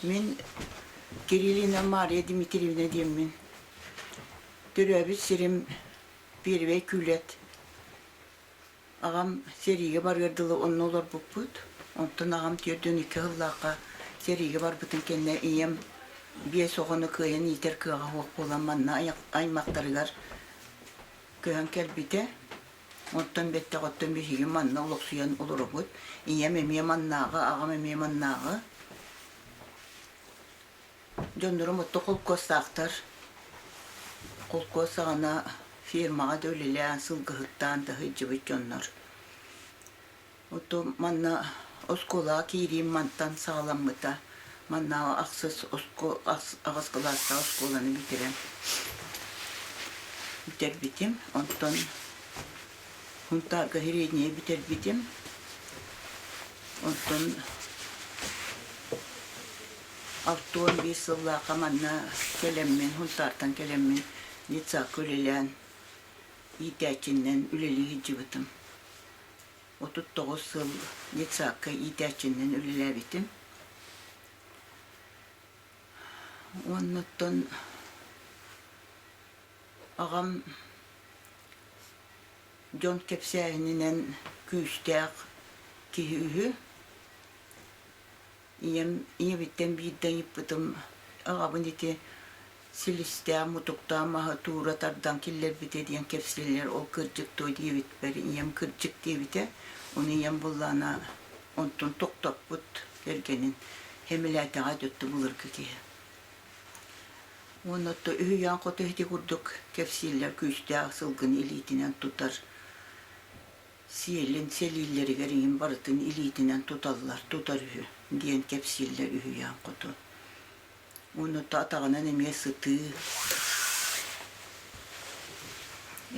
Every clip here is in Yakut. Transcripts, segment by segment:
Мин Кириллина Мария Дмитриевна диэммин. Төрөөбүт сирим Первэй Күлэт. Аҕам сэриигэ барыар дылы онно олорбуппут. Онтон аҕам түөртүн икки сыллаахха сэриигэ барбытын кэннэ ийэм биэс оҕону кыайан иитэр кыаҕа суох буолан манна аймахтарыгар көһөн кэлбитэ. Оттон бэттэҕиттэн биһиги манна олохсуйан олоробут. Ийэм эмиэ маннааҕы, аҕам эмиэ маннааҕы. Дьоннорум отто холкуостаахтар. Холкуос саҕана фирмаҕа да үлэлээн, сылгыһыттаан таһыдьдьыбыт дьоннор. Оттон манна оскуолаҕа киириим мантан саҕаламмыта. Манна ахсыс аҕыс кылаастаах оскуоланы бүтэрэн бүтэрбитим. Онтон хунтааргоһирение бүтэрбитим. Онтон алта уон биир сыллаахха манна кэлэммин, хунтаартан кэлэммин детсадка үлэлээн иитээччинэн үлэлии сылдьыбытым. отут тоҕус сыл детсадка иитээччинэн үлэлээбитим. Оннуттан аҕам дьон кэпсээһининэн күүстээх киһи үһү. ийэм ийэбиттэн биирдэ ыйыппытым аҕабын ити силистээх мутуктаах маһы туура тардан киллэрбитэ диэн кэпсииллэр ол кырдьык дуо диэбиппэр ийэм кырдьык диэбитэ ону ийэм буллаана онтун тохтоппут кэргэнин хэмилээтэҕэ өттү былыргы киһи уонна отто үһүйээн хоту ити курдук кэпсииллэр күүстээх сылгыны илиитинэн тутар Сиэлин сэлииллэригэр иһин барытын илиитинэн туталлар, тутар үһү, диэн кэпсииллэр үһүйээн хоту. Ууну атаҕынан эмиэ сытыы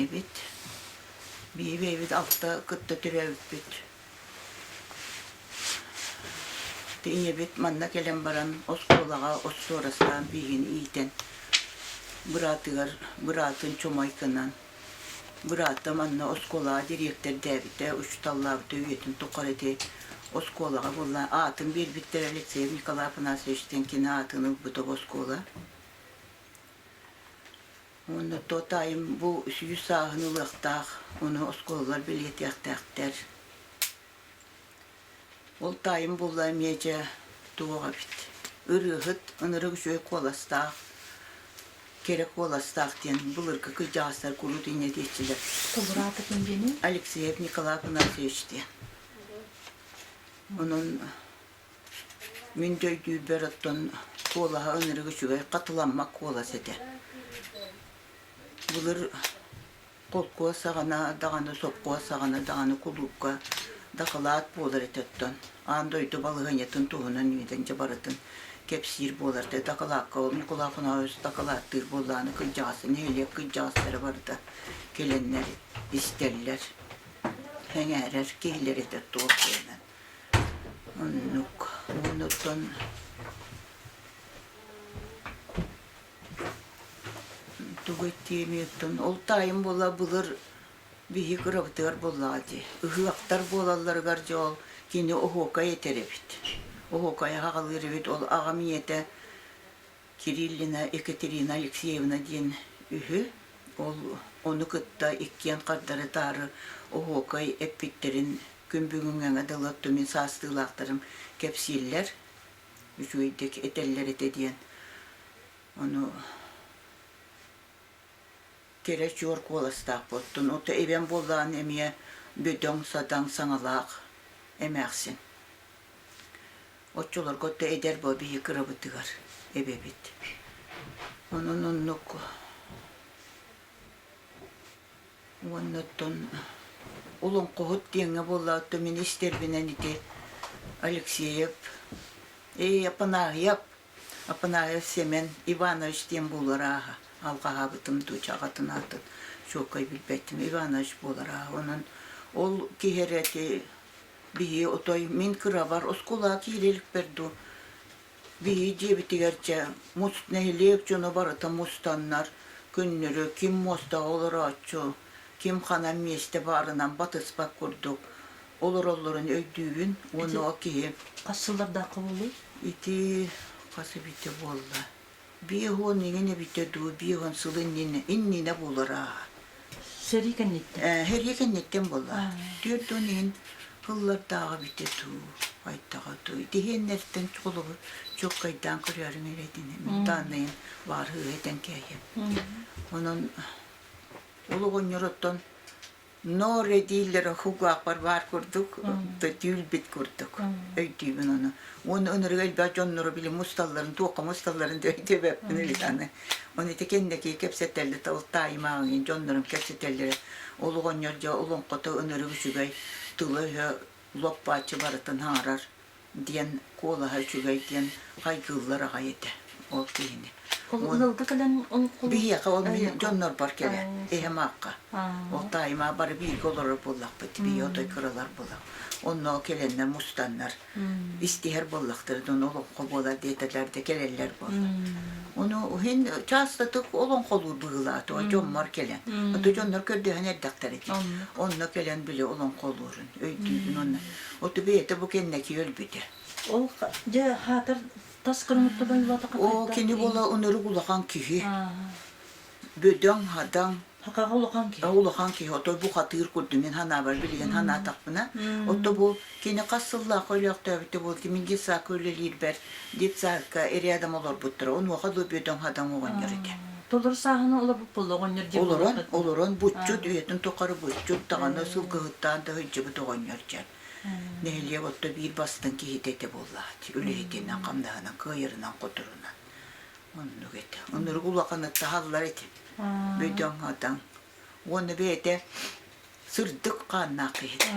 эбит. Биһи бэйэбит алта кытта түһэбиппит. Ийэбит манна кэлэн баран оскуолаҕа отсуорастаан биһигин иитэн быраатыгар быраатын чумайкынан Быраата манна оскуолаҕа дириэктэрдээбитэ, учууталлаабыта үйэтин тухары ити оскуолаҕа буолла. Аатын биэрбиттэрэ Алексеев Николай Афанасьевич диэн кини аатын ылбыта бу оскуола. Уонна то таайым бу сүүс сааһын ылыахтаах, ону оскуолалар бэлиэтиэхтээхтэр. Ол таайым булла эмиэ дьэ туох эбит. Ырыаһыт, ынырык үчүгэй куоластаах, кэрэ куоластаах диэн былыргы кырдьаҕастар куруук инньэ диэччилэр. Кубурата ким диэни? Алексеев Николай Панасович диэн. Онон мин дө өйдүүрбэр оттон куолаһа ынырык үчүгэй хатыламмат куолас этэ. Былыр холкуос-саҕана даҕаны, сопхуос-саҕана даҕаны кулуупка дакылаат буолар этэ оттон, аан дойду балаһыанньатын туһунан үүнэн дьэ барытын кэпсиир буолар этэ. Дакылаакка ол Ньукулаахунаабыс дакылааттыыр буоллаҕына кырдьаҕас, нэһилиэк кырдьаҕастара барыта кэлэннэр истэллэр, сэҥээрэр киһилэр этэ туох гынан. Оннук. Оннуттан тугу этиэмиэттэн ол таайым буола былыр биһи кырабытыгар буоллаҕа дии ыһыахтар буолалларыгар дьэ ол кини оһуокай этэр эбит оһуокайы хаҕалыыр эбит ол аҕам ийэтэ кириллина екатерина алексеевна диэн үһү ол ону кытта иккиэн хардары-таары оһуокай эппиттэрин күн бүгүҥҥэҥэ дылы тумин саастыылаахтарым кэпсииллэр үчүгэйдик этэллэр этэ диэн ону кэрэ чуор куоластаахпыттын ото ибэн буоллаҕын эмиэ бөдөҥ садаҥ саҥалаах эмээхсин оччолорго отто эдэр бо биһи кырабытыгар эбэбит онун оннук уонна оттон Олоҥхоһут диэҥҥэ буоллаҕыттан министиэрбинэн ити Алексеев, Эй, Апанааһыйап, Апанааһыйап Семен Иванович диэн буолар ааҕа алҕаһаабытым дуу, чаҕатын аатын чуоккай билбэттим Иванович буолар ааҕа онон ол киһи эрэ ити биһиги отой мин кыравар оскуолаҕа киирэ иликпэр дуу Биһи дьиэбитигэр дьэ мус нэһилиэк дьоно барыта мустаннар күннөрү ким муостаҕа олорооччу, ким ханан миэстэ баарынан батыспат курдук олороллорун өйдүүбүн уонна ол киһи Хас сыллардаахха буолуой? ити хас эбитэ буолла Биэс уон иҥин эбитэ дуу, биир уон сыл иннинэ, иннинэ буолара. Сэрии кэнниттэн. Э, сэрии кэнниттэн буолла. Түөрт уон иһин кыллардааҕы эбитэ дуу, хайдаҕа дуу. Итиһиэннэриттэн холобур чууккайдаан көрөөрүҥ эрэ итини. Мин дааннайым баар ыһыытан кээйэ. Онон олоҕонньор оттон ноор этиилэр хугуахпар баар курдук да түүлбит курдук өйдүүбүн ону уонна ынырыга элбэх дьоннору били мусталларын туохха мусталларын диэбэппин или аны оны ити кэннэки кэпсэтэллэр ол тааймааҕын дьоннорум кэпсэтэллэрэ ол оҕонньор дьэ олоҥхото ынырык үчүгэй тыла-өһө лоппааччы барытын ааҕар диэн куолаһа үчүгэй диэн хайгыыллар аҕай этэ ол киһини. Ол ылга кэлэн биһиэхэ ол дьоннорбор кэлэ эһэм аакка ол таайма бары бииргэ олорор буоллахпыт бии отой кыралар буолла онно кэлэннэр мустаннар истиһэр буоллахтар дон олоххо буолар диэтэлэр де кэлэллэр буолла ону иһин частотык олоҥхолуур быһылаат ой дьоммор кэлэн ото дьоннор көрдөһөн эрдэхтэр эти онно кэлэн били олоҥхолуурун өйдүүбүн онно Утугу этэ бу кэннэки өлбүтэ. Ол дьэ хаатар тас кырымыттан ойулатаха Оо кини буола өнөрүг улахан киһи. Бөдөҥ, хадаҥ. Хакаҕа улахан киһи. Улахан киһи. Ото бу хатыыр курдум мин санаабар билигин санаатахпына. Ото бу кини хас сыллаах өлөөхтөөбүтэ буол киминги саакы үлэлиирбэр детсадка рядом олорбуттара. Онуоха да бөдөҥ хадаҥ оҕонньор этэ. Толору сааһынан олоппуппут оҕонньор диэн олорон олорон булчут үйэтин тухары булчут даҕаны сылгыһыттаан да сылдьыбыт оҕонньор дьэ нэһилиэк отто биир бастыҥ киһитэ этэ буоллаҕа үлэһитинэн хамнаһынан кыайарынан кутурунан оннук этэ оннук улаханы таһаллар этэ бөдөҥ атаҥ уонна бэйэтэ сырдык хааннаах киһитэ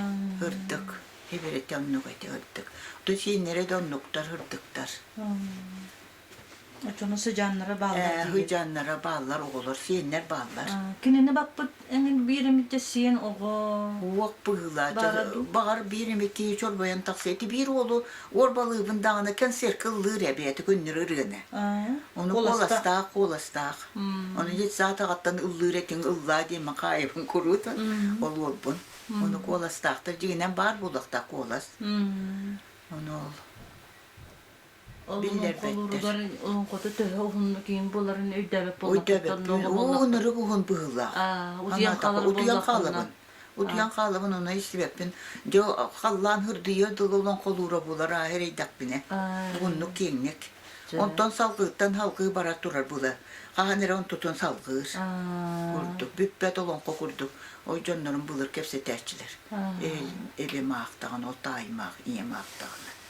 ырдык ибирэтэ оннук этэ ырдык то сииннэрэ да оннуктар ырдыктар Очону сыдьааннара бааллар э, Сыдьааннара бааллар, оҕолор, сиэннэр бааллар. Кинини баппыт эҥин бииримитэ сиэн оҕо. Уох быһыылаах. Баҕар бииримити чорбойон тахсыы. Ити биир уолу уорбалыыбын даҕаны концертка ыллыыр эбээти күннүр ырыаны. Ону куоластаах, куоластаах. Ону детсаатаҕаттан ыллыыр этиҥ ыллаа диэн Макаевын куруутун ол уорбун. Ону куоластаахтар дьигинэн баар буолуохтаах куолас. Ону ол Биллэрбэттэр. Олоҥхото төһө уһуннук иһин буларын өйдөөбөт буоллахпыттан нуоҕа буллахпыт. Уу нырык уһун быһыылаах. Утуйан хаалабын. Утуйан хаалабын ону истибэппин. Дьэ халлаан хырдыйыа дылы олоҥхолуура булар аһы эрэйдэхпинэ. Уһуннук киэҥник. Онтон салгыыттан салгыы бара турар була. Хаһан эрэ онтутун салгыыр. Курдук бүппэт олоҥхо курдук. Ой дьоннорум былыр кэпсэтээччилэр. Элим аахтаҕына, ол тааймаах, ийэм аахтаҕына.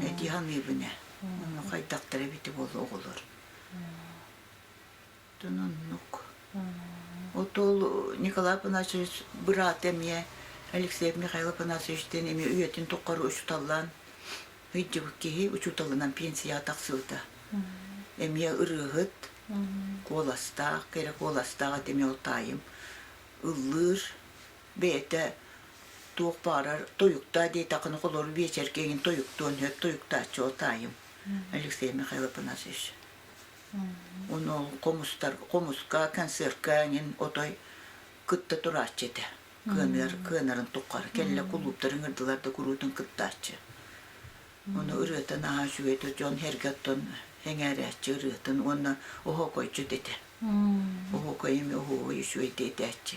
Эдии саныыбын ээ. Ону хайдахтара эбитэ буолла оҕолор. Тонуннук. Отол Николай Панасович быраат эмиэ Алексей Михаил Панасовичтыын эмиэ үйэтин тухары учууталлаан ыйдьыбыт киһи учууталынан пенсияҕа тахсыбыта. Эмиэ ырыаһыт, куоластаах, кэрэ куоластаах эти эмиэ ол таайым ыллыыр, бэйэтэ туох баарар тойуктаа диэтэххинэ холору биэчэргэ эҥин тойуктуон сөп тойуктааччы ол таайым Алексей Михаил Афанасьевич ону хомустар хомуска концертка эҥин отой кытта турааччы этэ кыаныар кыанарын туххары кэллэ кулууптарын ырдылар да куруутун кыттааччы ону ырыатын аһа үчүгөйдür дьон эргэ оттон эҥээрээччи ырыатын уонна оһокойчут этэ оһокой эми оһуой үчүгэй диэтээччи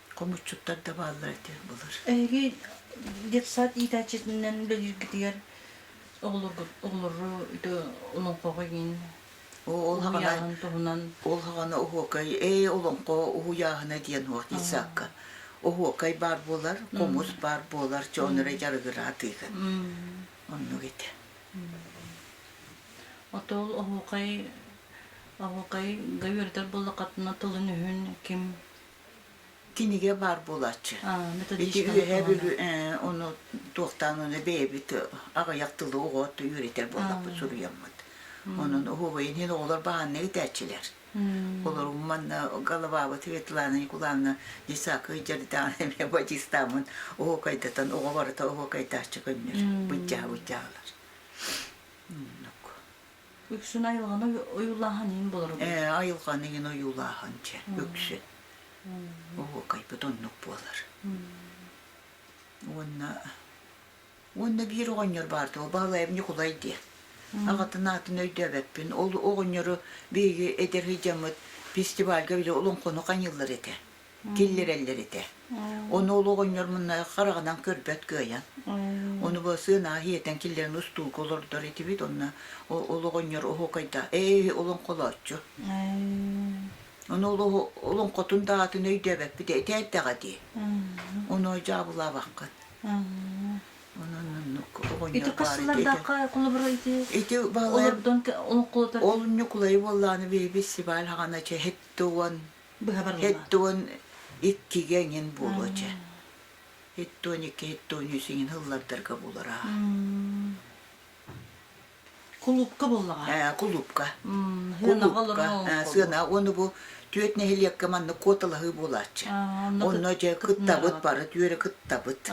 хомуччуттар да бааллар этэ былыр. Эһиги детсад иитээччитинэн үлэлииргитигэр оҕолору олоҥхоҕо иин ол хаҕаны туһунан ол хаҕаны оһуокай ээ олоҥхо уһуйааһына диэн офицакка оһуокай баар буолар хомус баар буолар чоонура дьарыгыраатыыгын оннук ити отол оһуокай оһуокай гайырдар боллакатына тылын үһүн ким кинигэ баар буолааччы. Ити үөһэ бүлүү ону туохтаан оны бэйэбит аҕыйах тылы оҕот үөрэтэр буоллахпыт суруйаммыт. Онон оһуобайын иһин оҕолор баанна итэчилэр. Олорум манна головабыт Светлана Николаевна Десакый жердан эмэ батистамын оһуокайдатан оҕо барыта оһуокайдааччы көннөр быддьаһа быддьаалар. Үксүн айылҕаны ойуулааһын иһин болоро Ээ, айылҕаны иһин ойуулааһын чэ, үксүн. Оһуокайбыт оннук буолар. Уонна уонна биир оҕонньор баарда, ол баһылайым Ньукулай диэн. Аҕатын аатын өйдөөбөппүн. Ол оҕонньору биһиги эдэр сыдьаммыт фестивальга били олоҥхону хайыыллар этэ. киллэрэллэр этэ. Ону ол оҕонньор мунна хараҕынан көрбөт кыайан. Ону бу сыан аһы иэтэн киллэрэн устуука олордор этибит. Онно ол оҕонньор оһуокайда ээ олоҥхолооччу. Ону олоҥхотун даатын өйдөөбөппүт этээтэҕэ дии. Ону дьаабылаабаккын. Ити қыз сыллардаахха холобура ити олордон олоҥхолотор. Ол ньукулайы буоллааны бэйбит сибаал хаҕана чэһит туон Икки уон иккигэ эҥин буолуо дьэ. Икки уон икки, икки уон үс эҥин ыллардарга буолара. Кулуупка буоллаҕа. Ээ, кулуупка. Кулуупка. Сыана уону бу түөрт нэһилиэккэ манна куоталаһыы буолааччы. Онно дьэ кыттабыт бары түөрэ кыттабыт.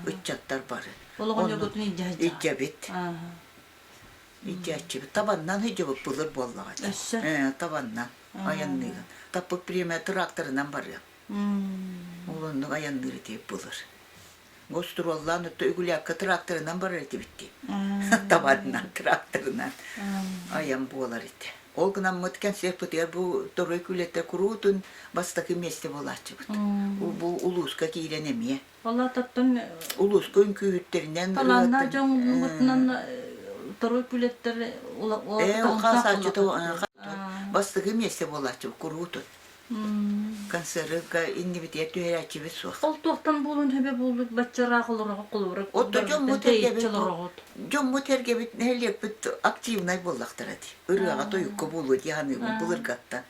Ыччаттар бары. Олоҕонньоргутун илдьэбит. Илдьээччибит. Табаннан илдьэбит былыр буоллаҕа. Табаннан. айанныыга. Таппыт премия тракторынан барыам. Ол оннук айанныыр этии булар. Гостуруоллаан өттө үгүлээккэ тракторынан барар этибит дии. Табанынан, тракторынан айан буолар ити. Ол гынаммыт концертпытыгар бу торой күлэтэ куруутун бастакы месте буолааччыбыт. Бу улууска киирэн эмиэ палататтан улууска үҥкүүһүттэринэн талааннаах дьон муммутунан второй күлэттэр бастыгы миэсэ буолааччы куруутут концертка иннибитигэр түһэрээччибит суох ол туохтан буолун хөбө буллут баччараах олорох колорок отто дьоммут эргебит нэһилиэкпит активнай буоллахтара ди ырыаҕа тойукка буолуо дии ханыыбын былыргаттан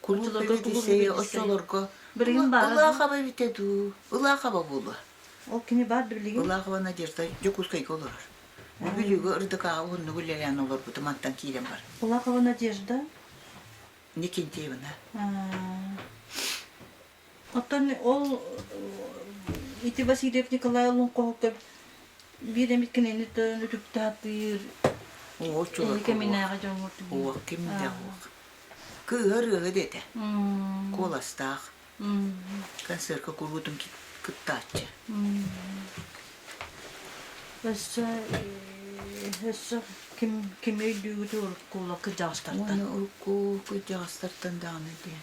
Култуура лиссэйэ оччолорго Ылаахаба Ылаахаба эбитэ дуу? Ылаахаба буолуо. Ол кини баар да билигин. Ылаахаба Надежда Дьокуускайга олорор. Бүлүүгэ ырдыкааҕа уһуннук үлэлээн олорбут мантан киирэн бар. Ылаахаба Надежда? Никентьеевна. Оттон ол ити Васильев Николай Лунковка биир эмит кинини төрөн үтүктаатыыр Уо чула кэминээҕи дьоҥҥор Уо ким да уох Кыыһа ырыаһы дэтэ Куоластаах концертка куруутун кыттааччы Өссө өссө ким ким өйдүүгүт уруккула кыдьаҕастартан Уону урукку кыдьаҕастартан даҕаны диэн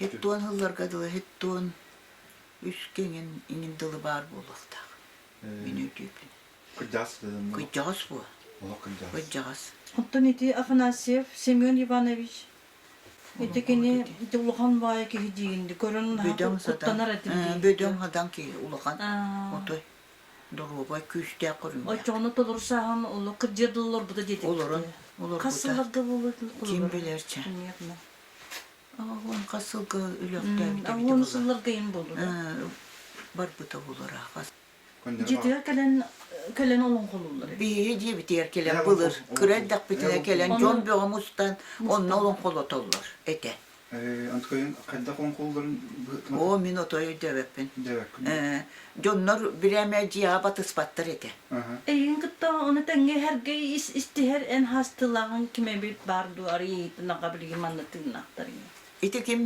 Һиттуон сылларга дылы һиттуон үс киҥин иҥин дылы баар буолуохтаах. Мин өйдүүбүн. Кырдьаҕас Кырдьаҕас буо. Олох кырдьаҕас. Кырдьаҕас. Оттон ити Афанасьев Семен Иванович ити кини ити улахан баайа киһи диигин көрөн куттанар этим бөдөҥ хадан киһи улахан отой доруобай күүстээх көрүҥ оччоҕуна толору сааһын олох кырдьыа да олорбута диэтик олорон олорбута хас сылларга буолуо ким билэрчэ Уон хас сылга Өлөктөөбүтэ бүтэ Уон сылларга ин боллура. Барбыта болура. Дьитигэр кэлэн кэлэн олон холуллар. Биһи диэбитигэр кэлэн былыр кыра эрдэхпитинэ кэлэн дьон бөҕө мустан онно олон холотоллор этэ. Анткойын хайдах оҥ холлорун О, мин отой дөбөппүн. Дөбөппүн. Дьоннор бүрээмэ дьиэҕэ батыспаттар этэ. Эйигин кытта ону тэҥҥэ эргэй истиһэр эн хаастыылааҕыҥ ким эбит баар дуо, арыый ынаҕа билигин манна тыыннаахтарыҥ? Ити ким,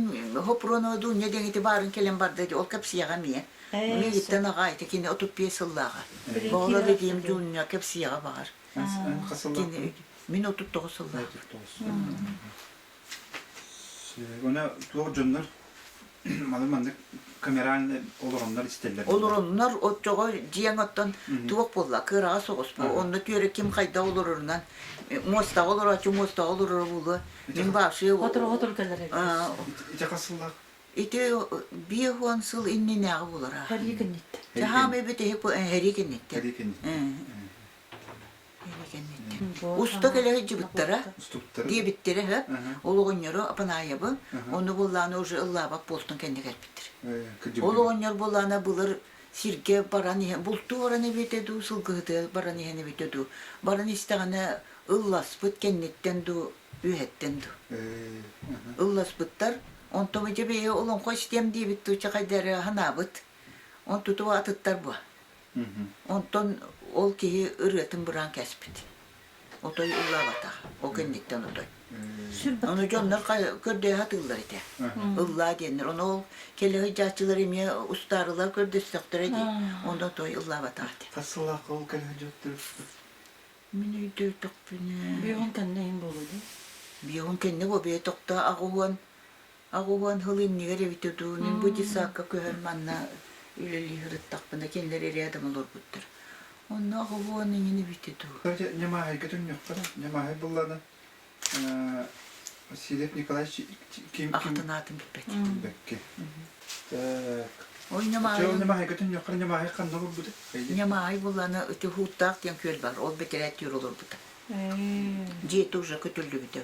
Хопроноду Ньэдэҥити баарын кэлэн барда ити, ол кэпсиэҕэ эмиэ. Миигиттэн аҕаа ити кини отут биэс сыллааҕа. Боҕолор Эдьиим Дуунньа кэпсиэҕэ баҕар. Кини мин отут тоҕус сыллаах. Уонна туох дьоннор маны маннык камераҥ олороннор истэллэр. Олороннор оччоҕо дьиэҥ оттон туох буолла? Кыараҕас соҕус бу. Онно түөрэ ким хайда олорорунан муостаҕа олорооччу муостаҕа олороро буолуо. Мин башия Хотору-хотору кэлэр эбит. Итиэхэ сыллаах. Ити биир уон сыл иннинээҕи буолара. Хәрии кэнниттэ. Чаһаам эбит иһи хәрии кэнниттэ. Хәрии кэнниттэ. Уста кэлэһи дьыбыттара диэбиттэрэ һэ олоҕонньору Апанаайабы ону буллааны уже ыллаабак буолтун кэнне кэлбиттир олоҕонньор буллаана былыр сирге баран иһэн булту оран эбитэ дуу сылгыһыты баран иһэн эбитэ дуу баран истэҕинэ ылласпыт кэнниттэн дуу үөһэттэн дуу ылласпыттар онтома дьэ бэйэ олоҥхо истиэм диэбит дуу чахайдары ханаабыт он туту атыттар буо Онтон ол киһи ырыатын быраан кэспит. Отой ыллаабатах. Ол кэнниттэн отой. Аны дьоннор көрдөйө сатыыллар этэ. Ыллаа диэннэр. Ону ол кэлэһи дьааччылар эмиэ устаарылар көрдөстөхтөрө дии. Онно той ыллаабатах этэ. Хас сыллаахха ол кэлэһи дьоттөрбүт? Мин өйдөөтөхпүнэ... Биһиги кэннэ иһин буолуо дии. Биһиги кэннэ бобие тохто аҕыһыан Аҕуһуон сыл иннигэр эбитэ дуу, мин бу детсадка көһөн манна үлэлии сырыттахпына кинилэр рядом олорбуттар. Онно аҕуһуон иҥин эбитэ дуу. Кстати, Немаһайга түннүөххэ да. Немаһай буллана Васильев Николаевич ким ким Ахтынаатын билбэт. билбэкки. Так. Ой, Немаһай. Немаһайга түннүөххэ Немаһай ханна булбута? Немаһай буллана Утюхуттаах диэн күөл бар. Ол бэтэрээттиир олорбута. Дьиэ тоже көтүллүбүтэ.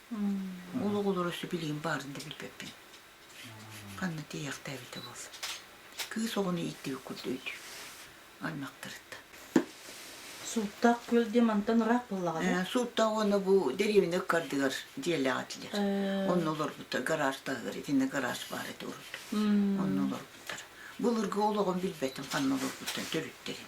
Ол оҕолору сөбүлүүн баарын да билбэппин. Ханна тиийэхтээбитэ буолса. Кыыс оҕону ииттибит курдук үтү. Аймахтарыттан. Сууттаах күөл диэн мантан ыраах буоллаҕа да? Сууттаах уонна бу дэриэбинэ кардыгар дьиэлээх этилэр. Онно олорбуттар гараж таһыгар итиннэ гараж баар ити урут. Онно олорбуттар. Былыргы ол оҕом билбэтим ханна олорбуттар төрүттэрин.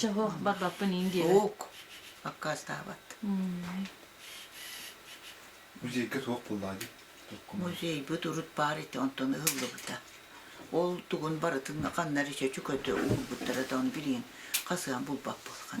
чаһыах барбаппын ин диэбэ Солк. Аккаастаабат. Музейга суох буллаадый? Музейбыт урут баар ити онтон ыһыллыбыта. Ол тугун барытын ханнары чөчүкөтө уурбуттара да оны билигин хасыан булбат болған.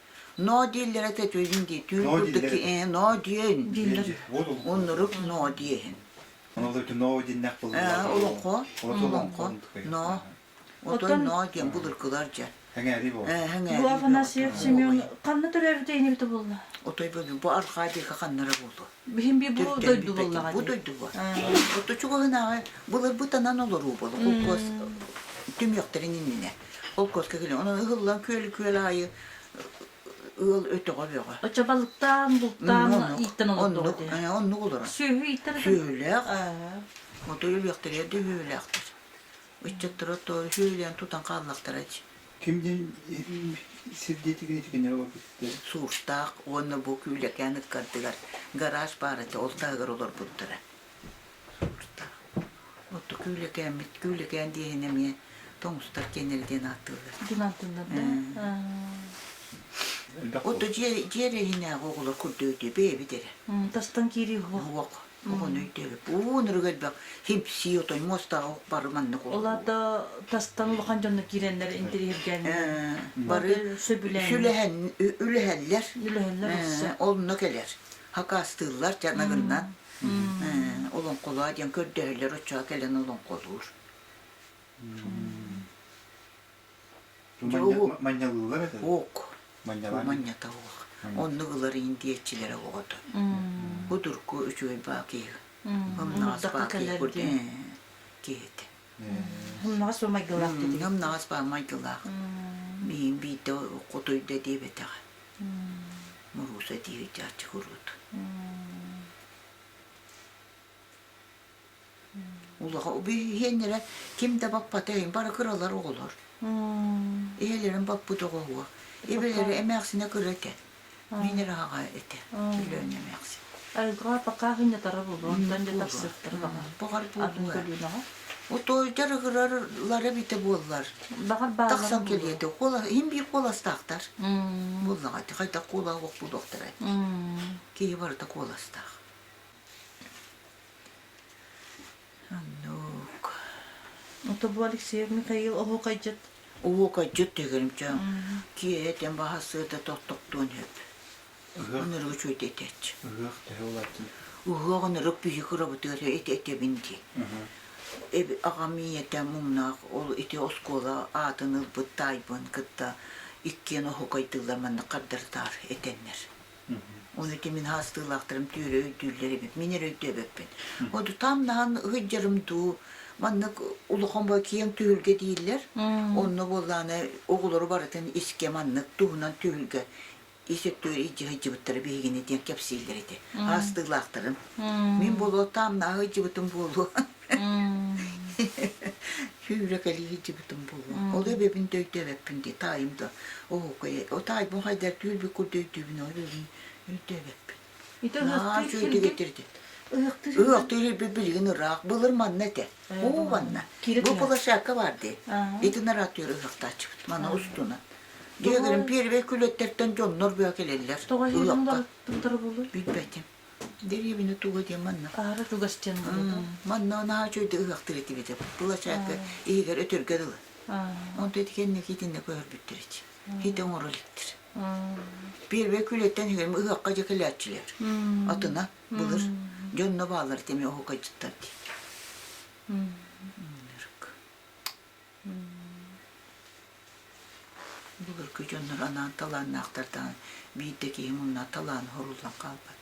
Ноо дииллэрэ көтүүн дии, түүн Ноо курдук дииллэрэ э, ноо диэн дииллэр. Уннурук ноо диэһин. Ону да ноо диннэх Э, булулар. олохо, Олохо олохо, ноо. Оттон ноо диэн булуркылар дьэ. Хәңәри бу. Э, Бу хәңәри. Афанасьев Семен ханна төрөрдө инибите булла? Отой бу бу арха диэки ханнара булу. Бihim bir bu döydü bulla Bu döydü bu. Отто чугаһынааҕы былыр бу танан олоруу болу. Куккос тüm йоктарын иннине. Ол көркө күлү. Онон ыһыллан күөл күөл аайы ыал өтөҕө бөҕө. Очо балыктаан, бултаан ииттэн олордоҕо дии. Оннук олорон. Сүөһү ииттэн. Сүөһүлээх, аа. Мотур өлүөхтэригэр да сүөһүлээхтэр. Ыччаттара тоору сүөһүлээн тутан хааллахтара дии. Кимдин сирдиэтигин итигиннэри олорбуттар. Сууртаах уонна бу Күүлэкээн ыккардыгар гараж баарата ол таһыгар олорбуттара. Сылдьыта. Отту Күүлэкээммит, Күүлэкээн диэһин эмиэ тоҥустар киэннэрэ диэн ааттыыллар. Дунантыннарда. Отто дьиэр иһинээҕи оҕолор көрдөөдү бэйэбит эрэ. Тастан киирии уһук. Уһук. Оҕону өйдөөбөт. Уунуруга элбэх хипсии, отой муостаҕа уһук бары маннык оҕолор. Оларда тастан улахан дьонно киирэннэр интэриэһиргээннэр. Бары сүлэһэллэр. Үлэһэллэр. Онно кэлэр. Хакаастыыллар, чанагыннан. олоҥхолоо диэн көрдөһөллөр оччоҕо кэлэн олоҥхолуур манньалыылар этэ уок манньата уох оннук ыларыйын диэччилэрэ оҕото кудурку үчүгэй баа киһи умнаҕас баа киһи киһитэ умнаҕас бу майгылаах дитиҥ умнаҕас баа майгылаах биин биирдэ хотуйда диэбэтэҕэ Мурууса дии ыйдааччы куруут. Улаха убиһиэннэрэ ким да баппата иһин бара кыралар оҕолор. Иһэлэрин баппыт оҕоһуо. Ибилэрэ эмээхсинэ кыра этэ. Мин аҕаҕа этэ. Өлөөн эмээхсин. Арыгыга пока хүннэтара булуон, тан да тапсыахтара баҕа. Бу хар Атын булуо. көлүүнэҕэ. Утуойдар ыһыралары битэ буоллар. Баҕар Тахсан кэлиэти. Куола, иһин биир куоластаахтар. Буллаҕа, хайдах куола уох булуохтарай. Киһи барыта куоластаах. Аннук. Тобу Алексеев Михаил оһуокайдьыт. Оһуокайдьыт тегерімча. Киэтен баһасыыта тоттоктуон үп. Ыһыах ыра үчүгэй этээч. Ыһыах төһө улаатын? Ыһыах ырык биһик ырабытыгар этэбин дии. Аҕам ийэтэ муҥнаах ол ити оскуола аатын ылбыт таайбын кытта иккиэн оһуокайдыылар манна хардардаар этэннэр. Оны ити мин хаастыылаахтарым түөрө өйдүүллэр эбит. Мин эрэ өйдөөбөппүн. Оду там наһан ыһыйдьарым дуу, маннык улахан бу киэҥ түһүлгэ дииллэр. Онно буоллааны оҕолору барытын искэ маннык туһунан түһүлгэ ис өттүгэр илдьэ сылдьыбыттара биһигини диэн кэпсииллэр ити аастыылаахтарын. Мин болуоттаах наһаа сылдьыбытым буолуо. Сүүрэкэлии сылдьыбытым буолуо. Ол эбэбин да өйдөөбөппүн дии таайым да. Оо, кое, о таайбын хайдар түүл бик курдук өйдүүбүн, ол эбэбин өйдөөбөппүн. Ити ыһыахтыыр сиргэ Ыһыахтыыр ирбит билигин ыраах былыр манна этэ. Бу манна. Бу площадка бар дии. Итин аратыыр ыһыахтааччыбыт. Мана устунан. Дегрим первый күлөттертен дьоннор быа келеллер. Тоҕо иһинуга тымтары булур? Билбэтим. Деревина туга диэн манна. Аара тугас диэн Манна анаа чөйдө ыһыахтыр этибите. Площадка иһигэр өтөргө дылы. Он теткен никитинне көрбүттер эч. хит оҥоро иликтир. Первый күлеттен хем ыһыахха же кэлээччилэр. Атына былыр дьонно баалар теме оһукайчыттар ди. Былыр кü дьоннор анаан талааннаахтардаан биирдэ киһи мунна талаан хоруллан хаалбат.